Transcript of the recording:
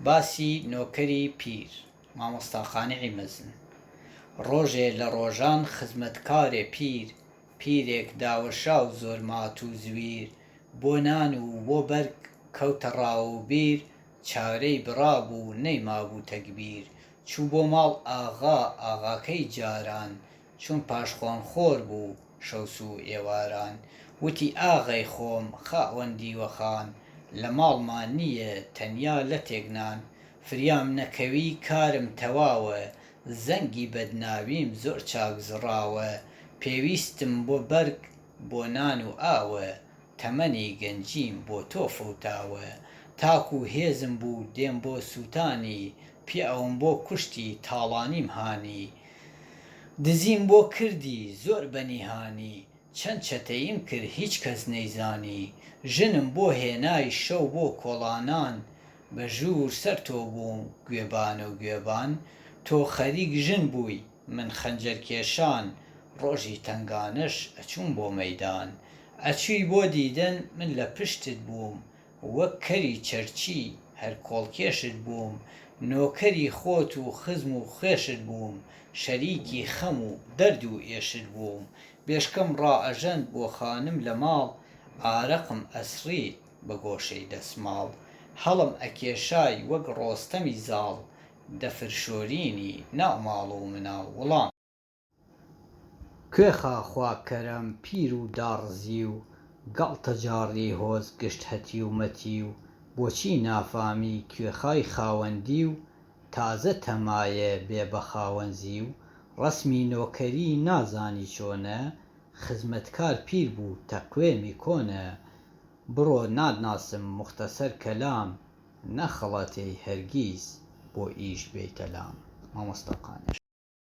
باسی نۆکەری پیر، مامۆستا قانعی مەزن، ڕۆژێ لە ڕۆژان خزمەتکارێ پیر، پیرێک داوەشاو زۆر مات و زویر، بۆ نان و بۆ بەرگ کەوتە ڕا و بیر، چارەی بڕابوو نەیمابوو تەگبیر، چوو بۆ ماڵ ئاغا، ئاغاکەی جاران، چون پاشخۆان خۆر بوو شەوسوو ئێواران وتی ئاغەی خۆم خاوەن دیوەخان لە ماڵما نییە تەنیا لەتێک نان فریام نەکەوی کارم تەواوە زەنگی بەدناویم زۆر چاک زڕاوە پێویستم بۆ بەرگ بۆ نان و ئاوە تەمەنی گەنجیم بۆ تۆ فەوتاوە تاکوو هێزم بوو دێم بۆ سووتانی پیاوم بۆ کوشتی تاڵانیم هانی دزیم بۆ کردی زۆر بە نیهانی چەند چەتەییم کرد هیچ کەس نەیزانی ژنم بۆ هێنای شەو بۆ کۆڵانان بە ژوور سەر تۆ بووم گوێبانە و گوێبان تۆ خەریک ژن بووی من خەنجەر کێشان ڕۆژی تەنگانەش ئەچووم بۆ مەیدان ئەچووی بۆ دیدن من لە پشتت بووم وەک کەری چەرچی هەر کۆڵکێشت بووم نۆکەری خۆت و خزم و خوێشت بووم شەریکی خەم و دەرد و ئێشت بووم بێشکەم ڕائەژەند بۆ خانم لە ماڵ ئارەقم ئەسڕی بە گۆشەی دەسماڵ هەڵم ئەکێشای وەک ڕۆستەمی زاڵ دەفرشۆرینی ناو ماڵ و مناڵ وڵام. کوێخا خوا کەرەم پیر و داڕزی و گاڵتە جاڕی هۆز گشت هەتی و مەتی و بۆچی نافامی کوێخای خاوەندی و تازە تەمایە بێ بە خاوەنزی و ڕەسمی نۆکەری نازانی چۆنە خزمەتکار پیر بوو تەقوێمی کۆنە بڕۆ ناتناسم موختەسەر کەلام نەخڵەتێی هەرگیز بۆ ئیش بێی کەلام مامۆستا قانع.